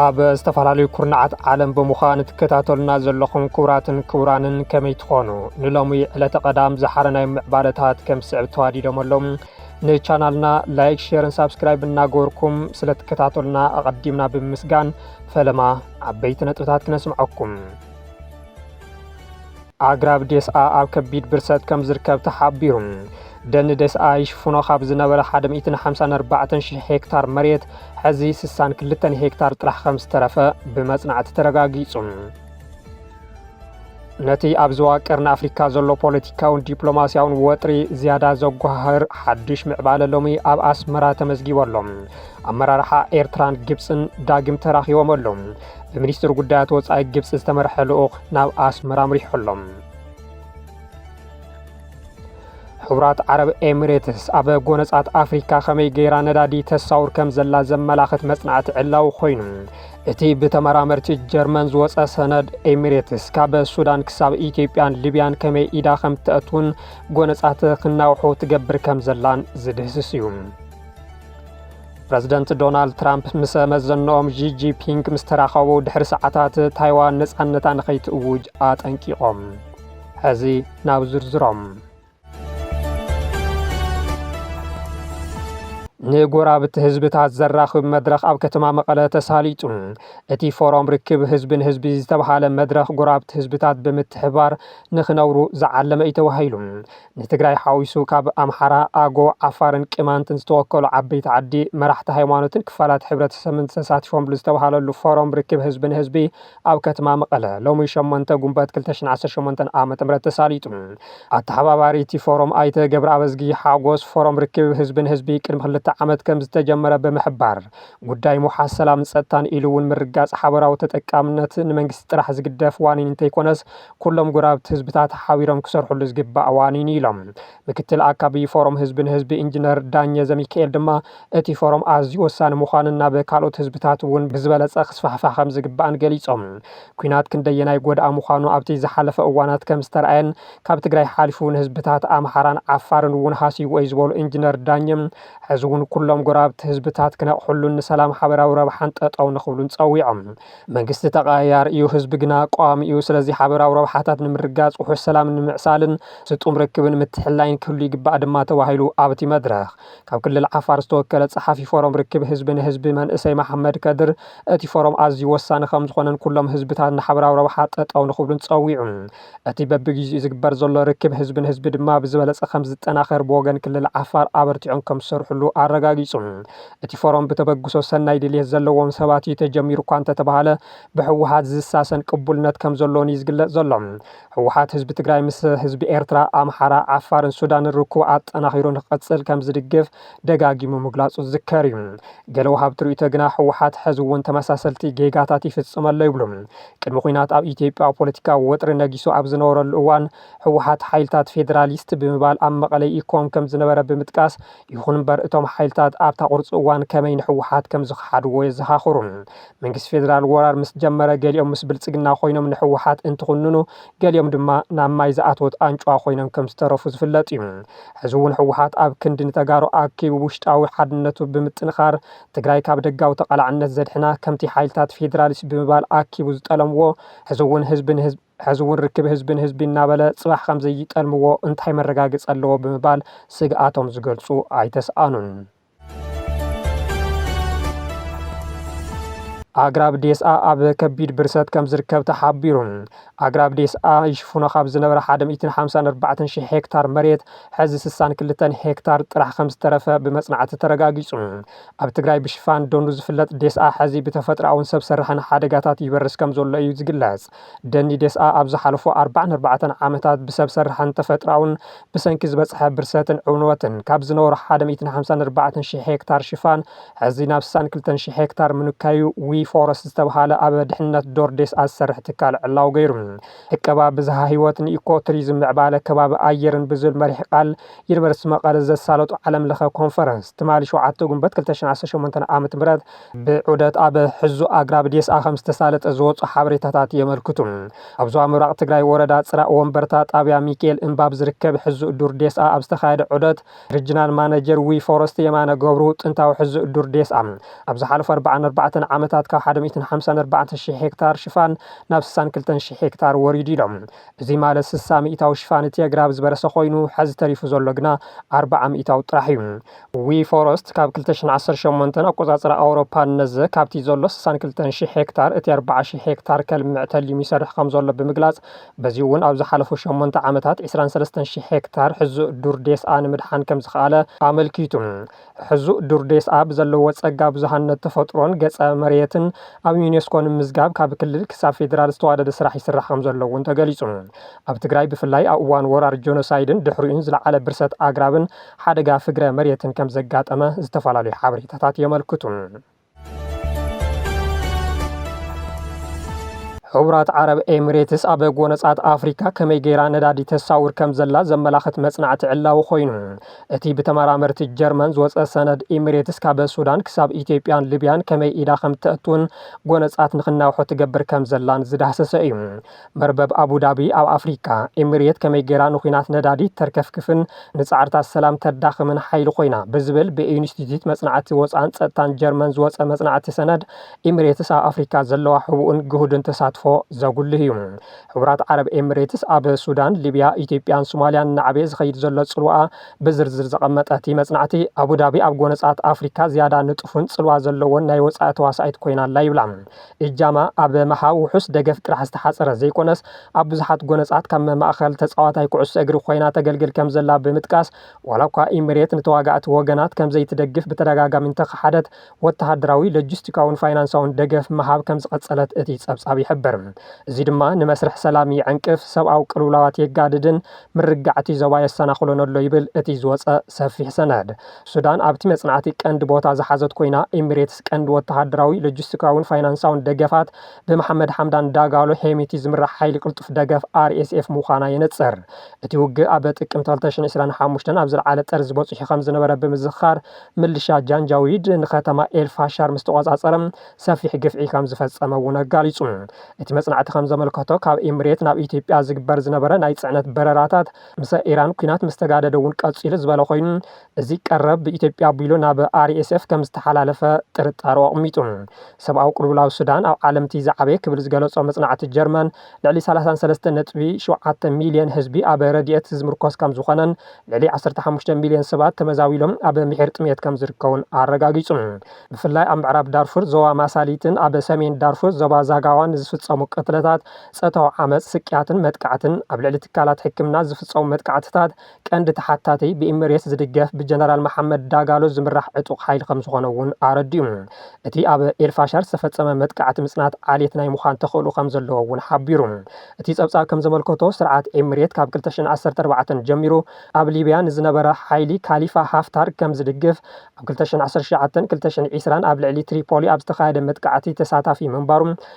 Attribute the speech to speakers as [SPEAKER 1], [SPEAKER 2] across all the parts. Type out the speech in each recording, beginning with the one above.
[SPEAKER 1] ኣብ ዝተፈላለዩ ኩርናዓት ዓለም ብምዃን ትከታተሉና ዘለኹም ክቡራትን ክቡራንን ከመይ ትኾኑ ንሎሚ ዕለተ ቀዳም ዝሓረ ናይ ምዕባለታት ከም ስዕብ ተዋዲዶም ኣለዉ ንቻናልና ላይክ ሼርን ሳብስክራይብ እናገበርኩም ስለትከታተሉና ኣቐዲምና ብምስጋን ፈለማ ዓበይቲ ነጥብታት ክነስምዐኩም። ኣግራብ ዴስኣ ኣብ ከቢድ ብርሰት ከም ዝርከብ ተሓቢሩ። ደኒ ዴስኣ ይሽፍኖ ካብ ዝነበረ 154 ሽሕ ሄክታር መሬት ሕዚ 62 ሄክታር ጥራሕ ከም ዝተረፈ ብመጽናዕቲ ተረጋጊጹ። ነቲ ኣብ ዞባ ቀርኒ ኣፍሪካ ዘሎ ፖለቲካውን ዲፕሎማስያውን ወጥሪ ዝያዳ ዘጓሃህር ሓዱሽ ምዕባለ ሎሚ ኣብ ኣስመራ ተመዝጊቡ ኣሎ። ኣመራርሓ ኤርትራን ግብፅን ዳግም ተራኺቦም ኣሎ። ብሚኒስትር ጉዳያት ወፃኢ ግብፂ ዝተመርሐ ልኡኽ ናብ ኣስመራ ኣምሪሑ ኣሎ። ሕቡራት ዓረብ ኤሚሬትስ ኣብ ጎነጻት ኣፍሪካ ከመይ ገይራ ነዳዲ ተሳውር ከም ዘላ ዘመላኽት መጽናዕቲ ዕላዊ ኮይኑ እቲ ብተመራመርቲ ጀርመን ዝወፀ ሰነድ ኤሚሬትስ ካብ ሱዳን ክሳብ ኢትዮጵያን ሊብያን ከመይ ኢዳ ከም እትኣትውን ጎነፃት ክናውሑ ትገብር ከም ዘላን ዝድህስስ እዩ ፕረዚደንት ዶናልድ ትራምፕ ምስ መዘንኦም ዢጂፒንግ ምስ ተራኸቡ ድሕሪ ሰዓታት ታይዋን ነፃነታ ንኸይትእውጅ ኣጠንቂቖም ሐዚ ናብ ዝርዝሮም ንጎራብቲ ህዝብታት ዘራኽብ መድረኽ ኣብ ከተማ መቐለ ተሳሊጡ። እቲ ፎረም ርክብ ህዝቢ ንህዝቢ ዝተብሃለ መድረኽ ጎራብቲ ህዝብታት ብምትሕባር ንክነብሩ ዝዓለመ እዩ ተባሂሉ። ንትግራይ ሓዊሱ ካብ ኣምሓራ፣ ኣጎ፣ ዓፋርን ቅማንትን ዝተወከሉ ዓበይቲ ዓዲ፣ መራሕቲ ሃይማኖትን ክፋላት ሕብረተሰብን ተሳቲፎምሉ ዝተብሃለሉ ፎረም ርክብ ህዝቢ ንህዝቢ ኣብ ከትማ መቐለ ሎሚ ሸሞንተ ጉንበት ክልተ ሽሕን ዓሰርተ ሸሞንተን ዓመተ ምህረት ተሳሊጡ። ኣተሓባባሪ እቲ ፎሮም ኣይተ ገብረኣብዝጊ ሓጎስ ፎሮም ርክብ ህዝቢ ንህዝቢ ቅድሚ ክልተ ዓመት ከምዝተጀመረ ብምሕባር ጉዳይ ምውሓስ ሰላምን ፀጥታን ኢሉ እውን ምርግጋፅ ሓበራዊ ተጠቃምነት ንመንግስቲ ጥራሕ ዝግደፍ ዋኒን እንተይኮነስ ኩሎም ጎረባብቲ ህዝብታት ሓቢሮም ክሰርሕሉ ዝግባእ ዋኒን እዩ ኢሎም። ምክትል ኣካቢ ፎረም ህዝቢ ንህዝቢ ኢንጂነር ዳኘ ዘሚካኤል ድማ እቲ ፎረም ኣዝዩ ወሳኒ ምዃኑን ናብ ካልኦት ህዝብታት እውን ብዝበለፀ ክስፋሕፋሕ ከምዝግባእን ገሊፆም። ኲናት ክንደየናይ ጎዳኢ ምዃኑ ኣብቲ ዝሓለፈ እዋናት ከምዝተርኣየን ካብ ትግራይ ሓሊፉ ንህዝብታት ኣምሓራን ዓፋርን እውን ሃሲዩዎ እዩ ዝበሉ ኢንጂነር ዳኘ ሕዚ እውን ኩሎም ጎረባብቲ ህዝብታት ክነቕሕሉን ንሰላም ሓበራዊ ረብሓን ጠጠው ንኽብሉን ፀዊዖም። መንግስቲ ተቐያያሪ እዩ፣ ህዝቢ ግና ቋሚ እዩ። ስለዚ ሓበራዊ ረብሓታት ንምርግጋፅ፣ ውሑስ ሰላም ንምዕሳልን ስጡም ርክብን ምትሕልላይን ክህሉ ይግባእ ድማ ተባሂሉ ኣብ'ቲ መድረኽ። ካብ ክልል ዓፋር ዝተወከለ ፀሓፊ ፎረም ርክብ ህዝቢ ንህዝቢ መንእሰይ መሓመድ ከድር፣ እቲ ፎረም ኣዝዩ ወሳኒ ከምዝኾነን ኩሎም ህዝብታት ንሓበራዊ ረብሓ ጠጠው ንኽብሉን ፀዊዑ። እቲ በብግዚኡ ዝግበር ዘሎ ርክብ ህዝቢ ንህዝቢ ድማ ብዝበለፀ ከምዝጠናኸር ብወገን ክልል ዓፋር ኣበርቲዖም ከምዝሰርሕሉ ኣረጋጊፁ። እቲ ፎረም ብተበግሶ ሰናይ ድልየት ዘለዎም ሰባት እዩ ተጀሚሩ እኳ እንተተብሃለ ብህወሓት ዝሳሰን ቅቡልነት ከምዘለዎን እዩ ዝግለፅ ዘሎ። ህወሓት ህዝቢ ትግራይ ምስ ህዝቢ ኤርትራ፣ ኣምሓራ፣ ዓፋርን ሱዳንን ርክቡ ኣጠናኺሩ ንክቕፅል ከምዝድግፍ ደጋጊሙ ምግላፁ ዝዝከር እዩ። ገለ ወሃብቲ ርኢቶ ግና ህወሓት ሕዚ እውን ተመሳሰልቲ ጌጋታት ይፍፅም ኣሎ ይብሉ። ቅድሚ ኹናት ኣብ ኢትዮጵያ ፖለቲካዊ ወጥሪ ነጊሱ ኣብ ዝነበረሉ እዋን ህወሓት ሓይልታት ፌዴራሊስት ብምባል ኣብ መቐለ ይእኮም ከም ዝነበረ ብምጥቃስ ይኹን እምበር እቶም ሓይልታት ኣብታ ቁርፂ እዋን ከመይ ንህወሓት ከም ዝኸሓድዎ የዘኻኽሩ። መንግስቲ ፌዴራል ወራር ምስ ጀመረ ገሊኦም ምስ ብልፅግና ኮይኖም ንህወሓት እንትኹንኑ ገሊኦም ድማ ናብ ማይ ዝኣተወት ኣንጭዋ ኮይኖም ከም ዝተረፉ ዝፍለጥ እዩ። ሕዚ እውን ህወሓት ኣብ ክንዲ ንተጋሩ ኣኪቡ ውሽጣዊ ሓድነቱ ብምጥንኻር ትግራይ ካብ ደጋዊ ተቓላዕነት ዘድሕና ከምቲ ሓይልታት ፌዴራሊስት ብምባል ኣኪቡ ዝጠለምዎ ሕዚ እውን ህዝቢ ንህዝቢ ሕዚ እውን ርክብ ህዝቢ ንህዝቢ እናበለ ፅባሕ ከምዘይጠልምዎ እንታይ መረጋገፂ ኣለዎ ብምባል ስግኣቶም ዝገልፁ ኣይተስኣኑን። ኣግራብ ዴስኣ ኣብ ከቢድ ብርሰት ከም ዝርከብ ተሓቢሩ። ኣግራብ ዴስኣ ይሽፍኖ ካብ ዝነበረ 154 ሽሕ ሄክታር መሬት ሕዚ 62 ሄክታር ጥራሕ ከም ዝተረፈ ብመጽናዕቲ ተረጋጊጹ። ኣብ ትግራይ ብሽፋን ደኑ ዝፍለጥ ዴስኣ ሕዚ ብተፈጥሮኣውን ሰብ ስራሕን ሓደጋታት ይበርስ ከም ዘሎ እዩ ዝግለጽ። ደኒ ዴስኣ ኣብ ዝሓለፉ ኣርባዓን ኣርባዕተን ዓመታት ብሰብ ሰርሐን ተፈጥራውን ብሰንኪ ዝበፅሐ ብርሰትን ዕንወትን ካብ ዝነበሮ ሓደ ሚእትን ሓምሳን ኣርባዕተን ሺሕ ሄክታር ሽፋን ሕዚ ናብ ስሳን ክልተን ሺሕ ሄክታር ምንካዩ ዊ ፎረስት ዝተብሃለ ኣብ ድሕነት ዶር ዴስኣ ዝሰርሕ ትካል ዕላዊ ገይሩ። ዕቀባ ብዝሃ ህይወት ንኢኮ ቱሪዝም ምዕባለ ከባቢ ኣየርን ብዝብል መሪሕ ቃል ዩኒቨርስቲ መቐለ ዘሳለጦ ዓለም ለኸ ኮንፈረንስ ትማሊ ሸውዓተ ጉንበት ክልተ ሽሕን ዓሰርተ ሸሞንተን ዓመተ ምህረት ብዑደት ኣብ ሕዙእ ኣግራብ ዴስኣ ከምዝተሳለጠ ዝወፁ ሓበሬታታት የመልክቱ። ኣብ ዞባ ምብራቕ ትግራይ ወረዳ ፅራእ ወንበርታ ጣብያ ሚኪኤል እምባ ኣብ ዝርከብ ሕዙእ ዱር ዴስኣ ኣብ ዝተኻየደ ዑደት ሪጅናል ማነጀር ዊ ፎረስት የማነ ገብሩ ጥንታዊ ሕዙእ ዱር ዴስኣ ኣብ ዝሓለፉ ኣርብዓን ኣርባዕተን ዓመታት ካብ ሓደ ሚእትን ሓምሳን ኣርባዕተን ሺሕ ሄክታር ሽፋን ናብ ስሳን ክልተን ሺሕ ሄክታር ወሪዱ ኢሎም። እዙይ ማለት ስሳ ሚኢታዊ ሽፋን እቲ ኣግራብ ዝበረሰ ኮይኑ ሐዚ ተሪፉ ዘሎ ግና ኣርብዓ ሚኢታዊ ጥራሕ እዩ። ዊ ፎረስት ካብ ክልተ ሽሕን ዓሰርተ ሸሞንተን ኣቆጻጽራ ኣውሮፓ ንነዘ ካብቲ ዘሎ ስሳን ክልተን ሽሕ ሄክታር እቲ ኣርብዓ ሽሕ ሄክታር ከልምዕ ተሊሙ ይሰርሕ ከምዘሎ ብምግላጽ በዚ'ውን ኣብ ዝሓለፉ ሸሞንተ ዓመታት ዕስራን ሰለስተን ሽሕ ሄክታር ሕዙእ ዱር ዴስኣ ንምድሓን ከምዝኸኣለ ኣመልኪቱ። ሕዙእ ዱር ዴስኣ ብዘለዎ ጸጋ ብዙሃነት ተፈጥሮን ገጸ መሬትን ኣብ ዩኔስኮ ንምምዝጋብ ካብ ክልል ክሳብ ፌዴራል ዝተዋደደ ስራሕ ይስራሕ ከምዘሎ'ውን ተገሊጹ። ኣብ ትግራይ ብፍላይ ኣብ እዋን ወራር ጆኖሳይድን ድሕሪኡን ዝለዓለ ብርሰት ኣግራብን ሓደጋ ፍግረ መሬትን ከም ዘጋጠመ ዝተፈላለዩ ሓበሬታታት የመልክቱ። ሕቡራት ዓረብ ኤሚሬትስ ኣብ ጎነጻት ኣፍሪካ ከመይ ገይራ ነዳዲ ተሳውር ከም ዘላ ዘመላኽት መጽናዕቲ ዕላዊ ኮይኑ እቲ ብተመራመርቲ ጀርመን ዝወፀ ሰነድ ኤሚሬትስ ካብ ሱዳን ክሳብ ኢትዮጵያን ሊብያን ከመይ ኢዳ ከም እተእትውን ጎነጻት ንክናውሖ ትገብር ከም ዘላን ዝዳህሰሰ እዩ። መርበብ ኣቡዳቢ ኣብ ኣፍሪቃ፣ ኤምሬት ከመይ ገይራ ንኲናት ነዳዲ ተርከፍክፍን ንጻዕርታት ሰላም ተዳኽምን ሓይሊ ኮይና? ብዝብል ብኢንስቲትዩት መጽናዕቲ ወጽዓን ጸጥታን ጀርመን ዝወጸ መጽናዕቲ ሰነድ፣ ኤምሬትስ ኣብ ኣፍሪቃ ዘለዋ ሕቡእን ግሁድን ተሳትፎ ዘጉልህ እዩ። ሕቡራት ዓረብ ኤምሬትስ ኣብ ሱዳን፣ ሊብያ፣ ኢትዮጵያን ሱማልያን እናዓበየ ዝኸይድ ዘሎ ጽልዋኣ ብዝርዝር ዘቐመጠ እቲ መጽናዕቲ፣ ኣቡዳቢ ኣብ ጎነጻት ኣፍሪካ ዝያዳ ንጡፍን ጽልዋ ዘለዎን ናይ ወጻኢ ተዋሳኢት ኮይና ኣላ ይብላ። እጃማ ኣብ ምሃብ ውሑስ ደገፍ ጥራሕ ዝተሓጸረ ዘይኮነስ፣ ኣብ ብዙሓት ጎነጻት ከም ማእከል ተጻዋታይ ኩዕሶ እግሪ ኮይና ተገልግል ከምዘላ ብምጥቃስ፣ ዋላኳ ኢምሬት ንተዋጋእቲ ወገናት ከምዘይትደግፍ ብተደጋጋሚ እንተኸሓደት፣ ወተሃደራዊ፣ ሎጂስቲካውን ፋይናንሳውን ደገፍ ምሃብ ከምዝቐጸለት እቲ ጸብጻብ ይሕብር። እዚ ድማ ንመስርሕ ሰላም ይዕንቅፍ፣ ሰብኣዊ ቅልውላዋት የጋድድን ምርግጋዕ'ቲ ዞባ የሰናኽሎን ኣሎ ይብል እቲ ዝወጸ ሰፊሕ ሰነድ። ሱዳን ኣብቲ መጽናዕቲ ቀንዲ ቦታ ዝሓዘት ኮይና፣ ኤሚሬትስ ቀንዲ ወተሃደራዊ፣ ሎጂስቲካውን ፋይናንሳውን ደገፋት ብመሓመድ ሓምዳን ዳጋሎ፣ ሄሚቲ፣ ዝምራሕ ሓይሊ ቅልጡፍ ደገፍ፣ RSF፣ ምዃና የነጽር። እቲ ውግእ ኣብ ጥቅምቲ ክልተ ሽሕን ዕስራን ሓሙሽተን ኣብ ዝለዓለ ጠርዚ በጺሑ ከም ዝነበረ ብምዝኽኻር፣ ምልሻ ጃንጃዊድ ንከተማ ኤል ፋሻር ምስ ተቖጻጸረ ሰፊሕ ግፍዒ ከም ዝፈጸመ እውን ኣጋሊጹ። እቲ መጽናዕቲ ከም ዘመልከቶ፣ ካብ ኤሚሬት ናብ ኢትዮጵያ ዝግበር ዝነበረ ናይ ጽዕነት በረራታት ምስ ኢራን ኲናት ምስ ተጋደደ እውን ቀፂሉ ዝበለ ኮይኑ፣ እዚ ቀረብ ብኢትዮጵያ ኣቢሉ ናብ RSF ከም ዝተሓላለፈ ጥርጣረኡ ኣቕሚጡ። ሰብኣዊ ቅልውላው ሱዳን ኣብ ዓለም እቲ ዝዓበየ ክብል ዝገለፆ መፅናዕቲ ጀርመን፣ ልዕሊ ሰላሳን ሰለስተ ነጥቢ ሸውዓተ ሚሊየን ህዝቢ ኣብ ረድኤት ዝምርኮስ ከም ዝኾነን ልዕሊ ዓሰርተ ሓሙሽተ ሚሊየን ሰባት ተመዛቢሎም ኣብ ምሒር ጥምየት ከም ዝርከቡን ኣረጋጊፁ። ብፍላይ ኣብ ምዕራብ ዳርፉር ዞባ ማሳሊትን ኣብ ሰሜን ዳርፉር ዞባ ዛጋዋን ንዝፍፀሙ ቅትለታት ጸታዊ ዓመጽ፣ ስቅያትን መጥቃዕትን፣ ኣብ ልዕሊ ትካላት ሕክምና ዝፍጸሙ መጥቃዕትታት ቀንዲ ተሓታቲ ብኢምሬትስ ዝድገፍ ብጀነራል መሓመድ ዳጋሎ ዝምራሕ ዕጡቕ ሓይሊ ከምዝኾነ እውን ኣረዲኡ። እቲ ኣብ ኤልፋሸር ዝተፈጸመ መጥቃዕቲ ምጽናት ዓሌት ናይ ምዃን ተኽእሎ ከምዘለዎ እውን ሓቢሩ። እቲ ጸብጻብ ከምዘመልከቶ ስርዓት ኤምሬት ካብ ክልተ ሽሕን ዓሰርተ ኣርባዕተን ጀሚሩ ኣብ ሊብያ ንዝነበረ ሓይሊ ካሊፋ ሃፍታር ከምዝድግፍ ኣብ ክልተ ሽሕን ዓሰርተ ሸውዓተን ክልተ ሽሕን ዒስራን ኣብ ልዕሊ ትሪፖሊ ኣብ ዝተኻየደ መጥቃዕቲ ተሳታፊ ምንባሩ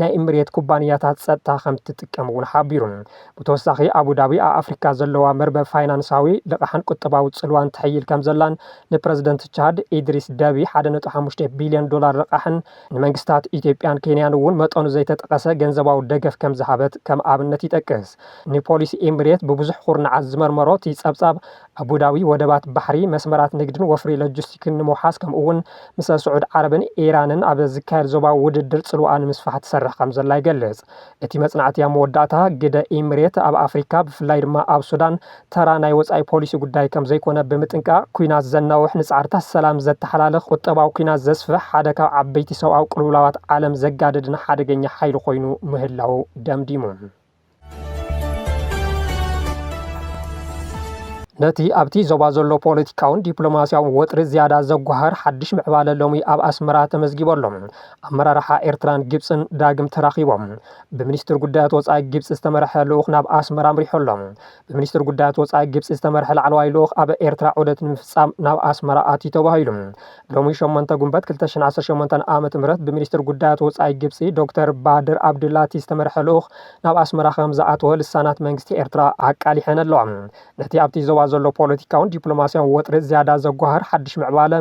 [SPEAKER 1] ናይ ኤምሬት ኩባንያታት ጸጥታ ከምትጥቀም'ውን ሓቢሩ። ብተወሳኺ ኣቡዳቢ ኣብ ኣፍሪካ ዘለዋ መርበብ ፋይናንሳዊ፣ ልቓሕን ቁጠባዊ ጽልዋን ተሕይል ከምዘላን ንፕረዚደንት ቻድ ኢድሪስ ደቢ ሓደ ነጥቢ ሓሙሽተ ቢልዮን ዶላር ልቓሕን ንመንግስታት ኢትዮጵያን ኬንያን'ውን መጠኑ ዘይተጠቐሰ ገንዘባዊ ደገፍ ከምዝሃበት ከም ኣብነት ይጠቅስ። ንፖሊሲ ኤምሬት ብብዙሕ ኩርናዓት ዝመርመሮ እቲ ጸብጻብ፣ ኣቡዳቢ ወደባት ባሕሪ፣ መስመራት ንግድን ወፍሪ ሎጂስቲክን ንምውሓስ ከምኡ'ውን ምስ ስዑድ ዓረብን ኢራንን ኣብ ዝካየድ ዞባዊ ውድድር ጽልዋኣ ንምስፋሕ ትሰርሕ ከምዘላ ይገልጽ። እቲ መጽናዕቲ ኣብ መወዳእታ፣ ግደ ኢምሬት ኣብ ኣፍሪካ ብፍላይ ድማ ኣብ ሱዳን ተራ ናይ ወጻኢ ፖሊሲ ጉዳይ ከምዘይኮነ ብምጥንቃቕ፣ ኲናት ዘናውሕ፣ ንጻዕርታት ሰላም ዘተሓላልኽ፣ ቁጠባዊ ኲናት ዘስፍሕ፣ ሓደ ካብ ዓበይቲ ሰብኣዊ ቅልውላዋት ዓለም ዘጋድድን ሓደገኛ ሓይሊ ኮይኑ ምህላዉ ደምዲሙ። ነቲ ኣብቲ ዞባ ዘሎ ፖለቲካውን ዲፕሎማስያውን ወጥሪ ዝያዳ ዘጓሃር ሓድሽ ምዕባለ ሎሚ ኣብ ኣስመራ ተመዝጊቡ ኣሎ። ኣመራርሓ ኤርትራን ግብፅን ዳግም ተራኺቦም። ብሚኒስትር ጉዳያት ወፃኢ ግብፂ ዝተመርሐ ልኡኽ ናብ ኣስመራ ኣምሪሑ ኣሎ። ብሚኒስትር ጉዳያት ወፃኢ ግብፂ ዝተመርሐ ላዕለዋይ ልኡኽ ኣብ ኤርትራ ዑደት ንምፍፃም ናብ ኣስመራ ኣትዩ ተባሂሉ። ሎሚ ሸሞንተ ጉንበት ክልተ ሽሕን ዓሰርተ ሸሞንተን ዓመተ ምህረት ብሚኒስትር ጉዳያት ወፃኢ ግብፂ ዶክተር ባድር ኣብድላቲ ዝተመርሐ ልኡኽ ናብ ኣስመራ ከምዝኣተወ ልሳናት መንግስቲ ኤርትራ ኣቃሊሐን ኣለዋ። ነቲ ኣብቲ ዞባ ዘሎ ፖለቲካውን ዲፕሎማስያውን ወጥሪ ዝያዳ ዘጓህር ሓድሽ ምዕባለ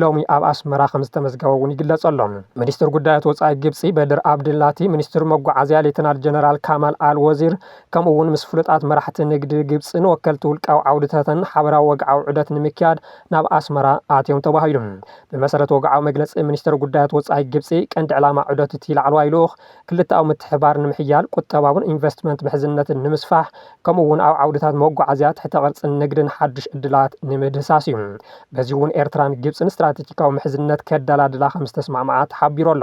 [SPEAKER 1] ሎሚ ኣብ ኣስመራ ከምዝተመዝገበ እውን ይግለፅ ኣሎ። ሚኒስትር ጉዳያት ወፃኢ ግብፂ በድር ኣብድላቲ፣ ሚኒስትር መጓዓዝያ ሌተናል ጀነራል ካማል ኣል ወዚር፣ ከምኡ'ውን ምስ ፍሉጣት መራሕቲ ንግዲ ግብጺን ወከልቲ ውልቃዊ ዓውድታትን ሓበራዊ ወግዓዊ ዑደት ንምክያድ ናብ ኣስመራ ኣትዮም ተባሂሉ። ብመሰረት ወግዓዊ መግለጺ ሚኒስተር ጉዳያት ወጻኢ ግብጺ፣ ቀንዲ ዕላማ ዑደት እቲ ላዕለዋይ ልኡኽ፣ ክልተኣዊ ምትሕብባር ንምሕያል፣ ቁጠባውን ኢንቨስትመንት ምሕዝነትን ንምስፋሕ፣ ከምኡ'ውን ኣብ ዓውድታት መጓዓዝያ፣ ትሕተ ቅርጽን ንግድን ሓድሽ ዕድላት ንምድህሳስ እዩ። በዚ'ውን ኤርትራን ግብጺን ስትራተጂካዊ ምሕዝነት ከደላድላ ከምዝተስማዕምዓ ተሓቢሩ ኣሎ።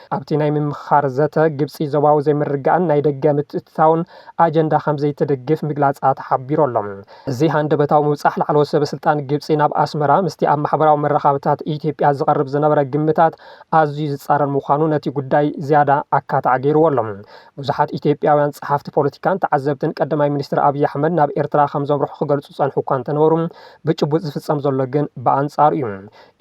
[SPEAKER 1] ኣብቲ ናይ ምምኽኻር ዘተ፣ ግብጺ ዞባዊ ዘይምርግጋእን ናይ ደገ ምትእትታውን ኣጀንዳ ከምዘይትድግፍ ምግላጻ ተሓቢሩ ኣሎ። እዚ ሃንደበታዊ ምብጻሕ ላዕለዎት ሰበስልጣን ግብጺ ናብ ኣስመራ፣ ምስቲ ኣብ ማሕበራዊ መራኻብታት ኢትዮጵያ ዝቐርብ ዝነበረ ግምታት ኣዝዩ ዝጻረር ምዃኑ ነቲ ጉዳይ ዝያዳ ኣካታዒ ገይርዎ ኣሎ። ብዙሓት ኢትዮጵያውያን ጸሓፍቲ ፖለቲካን ተዓዘብትን ቀዳማይ ሚኒስትር ኣብይ ኣሕመድ ናብ ኤርትራ ከምዘምርሑ ክገልጹ ዝጸንሑ'ኳ እንተነበሩ፣ ብጭቡጥ ዝፍጸም ዘሎ ግን ብኣንጻሩ'ዩ።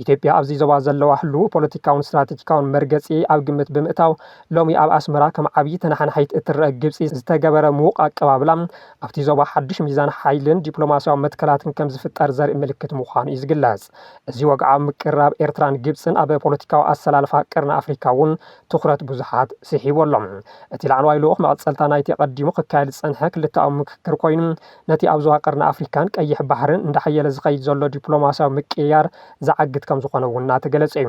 [SPEAKER 1] ኢትዮጵያ ኣብዚ ዞባ ዘለዋ ህሉው ፖለቲካውን ስትራቴጂካውን መርገጺ ኣብ ግምት ብምእታው ሎሚ ኣብ ኣስመራ ከም ዓብዪ ተነሓናሒት እትረኣ ግብጺ ዝተገበረ ምዉቕ ኣቀባብላ ኣብቲ ዞባ ሓድሽ ሚዛን ሓይልን ዲፕሎማስያዊ መትከላትን ከም ዝፍጠር ዘርኢ ምልክት ምዃኑ እዩ ዝግለጽ። እዚ ወግዓዊ ምቅርራብ ኤርትራን ግብጽን ኣብ ፖለቲካዊ ኣሰላልፋ ቀርኒ ኣፍሪካ እውን ትኹረት ብዙሓት ስሒቡ ኣሎ። እቲ ላዕለዋይ ልኡኽ መቐጸልታ ናይቲ ኣቐዲሙ ክካየድ ዝጸንሐ ክልተኣዊ ምክክር ኮይኑ ነቲ ኣብ ዞባ ቀርኒ ኣፍሪካን ቀይሕ ባሕርን እንዳሓየለ ዝኸይድ ዘሎ ዲፕሎማሲያዊ ምቅይያር ዝዓግት ከምዝኾነ እውን እናተገለፀ እዩ።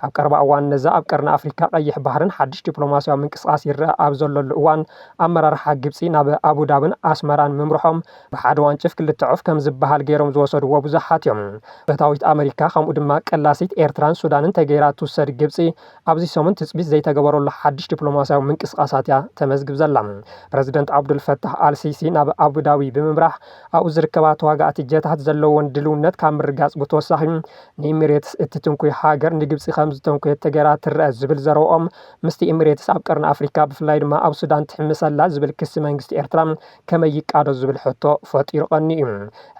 [SPEAKER 1] ካብ ቀረባ እዋን ነዛ ኣብ ቀርኒ ኣፍሪካ ቀይሕ ባሕርን ሓድሽ ዲፕሎማሲያዊ ምንቅስቓስ ይረኣ ኣብ ዘለሉ እዋን ኣመራርሓ ግብፂ ናብ ኣቡዳብን ኣስመራን ምምርሖም ብሓደ ዋንጭፍ ክልተ ዑፍ ከምዝበሃል ገይሮም ዝወሰድዎ ብዙሓት እዮም። ፈታዊት ኣመሪካ ከምኡ ድማ ቀላሲት ኤርትራን ሱዳንን ተገይራ ትውሰድ ግብፂ ኣብዚ ሰሙን ትጽቢት ዘይተገበረሉ ሓድሽ ዲፕሎማስያዊ ምንቅስቓሳት'ያ ተመዝግብ ዘላ። ፕረዚደንት ዓብዱል ፈታሕ ኣል ሲሲ ናብ ኣቡዳቢ ብምምራሕ፣ ኣብኡ ዝርከባ ተዋጋእቲ ጀታት ዘለወን ድልውነት ካብ ምርግጋጽ ብተወሳኺ፣ ንኢሚሬትስ እትትንኩይ ሃገር ንግብጺ ከምዝተንኩየት ተገይራ ትረኣ ዝብል ዘረብኦም፣ ምስቲ ኢሚሬትስ ኣብ ቀርኒ ኣፍሪካ ብፍላይ ድማ ኣብ ሱዳን ትሕምሰ'ላ ዝብል ክሲ መንግስቲ ኤርትራ ከመይ ይቃዶ ዝብል ሕቶ ፈጢሩ ቀንዩ።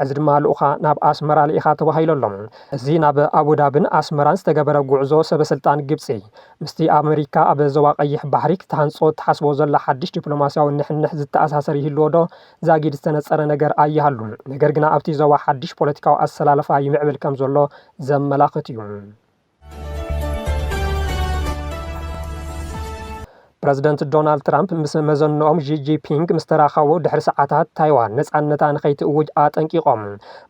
[SPEAKER 1] ሕዚ ድማ ልኡኻ ናብ ኣስመራ ልኢኻ ተባሂሉ ኣሎ። እዚ ናብ ኣቡዳብን ኣስመራን ዝተገበረ ጉዕዞ ሰበስልጣን ግብጺ ምስቲ ኣብ ኣመሪካ ኣብ ዞባ ቀይሕ ባሕሪ ክትሃንጾ እትሓስቦ ዘላ ሓድሽ ዲፕሎማስያዊ ንሕንሕ ዝተኣሳሰር ይህልዎዶ ዛጊድ ዝተነጸረ ነገር ኣይሃሉ ነገር ግና ኣብቲ ዞባ ሓድሽ ፖለቲካዊ ኣሰላልፋ ይምዕብል ከምዘሎ ዘመላኽት'ዩ። ፕረዚደንት ዶናልድ ትራምፕ ምስ መዘንኦም ዢጂፒንግ ምስ ተራኸቡ ድሕሪ ሰዓታት ታይዋን ነፃነታ ንኸይትእውጅ ኣጠንቂቖም።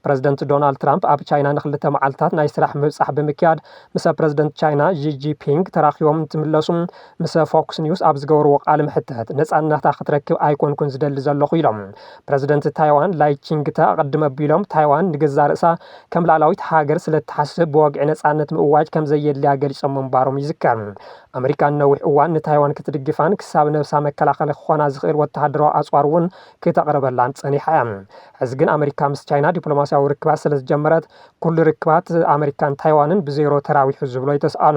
[SPEAKER 1] ፕረዚደንት ዶናልድ ትራምፕ ኣብ ቻይና ንክልተ መዓልትታት ናይ ስራሕ ምብጻሕ ብምክያድ ምስ ፕረዚደንት ቻይና ዢጂፒንግ ተራኺቦም እንትምለሱ ምስ ፎክስ ኒውስ ኣብ ዝገበርዎ ቃለ መሕትት፣ ነጻነታ ክትረክብ ኣይኮንኩን ዝደሊ ዘለኹ ኢሎም። ፕረዚደንት ታይዋን ላይ ቺንግተ ኣቐድም ኣቢሎም፣ ታይዋን ንገዛእ ርእሳ ከም ልኣላዊት ሃገር ስለ እትሓስብ ብወግዒ ነጻነት ምእዋጅ ከም ዘየድልያ ገሊጾም ምንባሮም ይዝከር። ኣመሪካ ንነዊሕ እዋን ንታይዋን ክትድግፋን ክሳብ ነብሳ መከላኸሊ ክኾና ዝኽእል ወተሃደራዊ ኣጽዋር እውን ክተቕርበላን ጸኒሓ እያ። ሕዚ ግን ኣመሪካ ምስ ቻይና ዲፕሎማስያዊ ርክባት ስለ ዝጀመረት፣ ኩሉ ርክባት ኣመሪካን ታይዋንን ብዜሮ ተራዊሑ ዝብሎ ኣይተስኣኑ።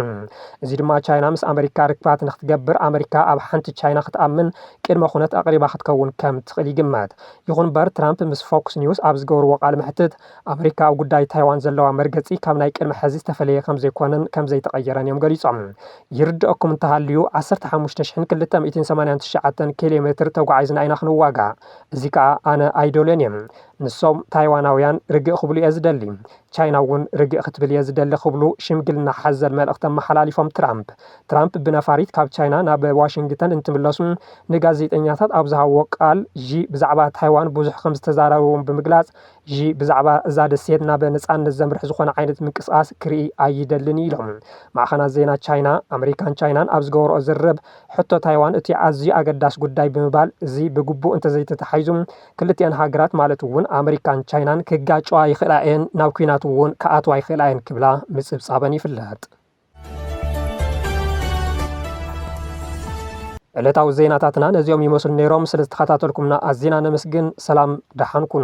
[SPEAKER 1] እዚ ድማ ቻይና ምስ ኣመሪካ ርክባት ንክትገብር ኣመሪካ ኣብ ሓንቲ ቻይና ክትኣምን ቅድመ ኩነት ኣቕሪባ ክትከውን ከም ትኽእል ይግመት። ይኹን ምበር ትራምፕ ምስ ፎክስ ኒውስ ኣብ ዝገበርዎ ቃለ መሕትት ኣመሪካ ኣብ ጉዳይ ታይዋን ዘለዋ መርገጺ ካብ ናይ ቅድሚ ሕዚ ዝተፈለየ ከም ዘይኮነን ከም ዘይተቐየረን እዮም ገሊጾም። ይርደኣኩም እንተሃልዩ ዓሰርተ ሓሙሽተ ሽሕን ክልተ ሚእትን ሰማንያን ትሽዓተን ኬሌሜትር ተጓዒዝና ኢና ክንዋጋእ። እዚ ከኣ ኣነ ኣይደልዮን እየ። ንሶም ታይዋናውያን ርግእ ክብሉ እየ ዝደሊ፣ ቻይና እውን ርግእ ክትብል እየ ዝደሊ ክብሉ ሽምግልና ሓዘል መልእኽቲ ኣመሓላሊፎም ትራምፕ። ትራምፕ ብነፋሪት ካብ ቻይና ናብ ዋሽንግተን እንትምለሱ ንጋዜጠኛታት ኣብ ዝሃብዎ ቃል ዢ ብዛዕባ ታይዋን ብዙሕ ከምዝተዛረብዎም ብምግላፅ ዢ ብዛዕባ እዛ ደሴት ናብ ነፃነት ዘምርሕ ዝኾነ ዓይነት ምንቅስቓስ ክርኢ ኣይደልን እዩ ኢሎም። ማዕኸናት ዜና ቻይና፣ ኣመሪካን ቻይናን ኣብ ዝገበርኦ ዝርርብ ሕቶ ታይዋን እቲ ኣዝዩ ኣገዳሲ ጉዳይ ብምባል እዚ ብግቡእ እንተዘይተታሒዙ ክልቲኣን ሃገራት ማለት እውን ኣመሪካን ቻይናን ክጋጨዋ ይኽእላ እየን፣ ናብ ኲናት እውን ክኣትዋ ይኽእላ እየን ክብላ ምፅብፃበን ይፍለጥ። ዕለታዊ ዜናታትና ነዚኦም ይመስሉ ነይሮም። ስለ ዝተኸታተልኩምና ኣዚና ነመስግን። ሰላም ደሓን ኩኑ።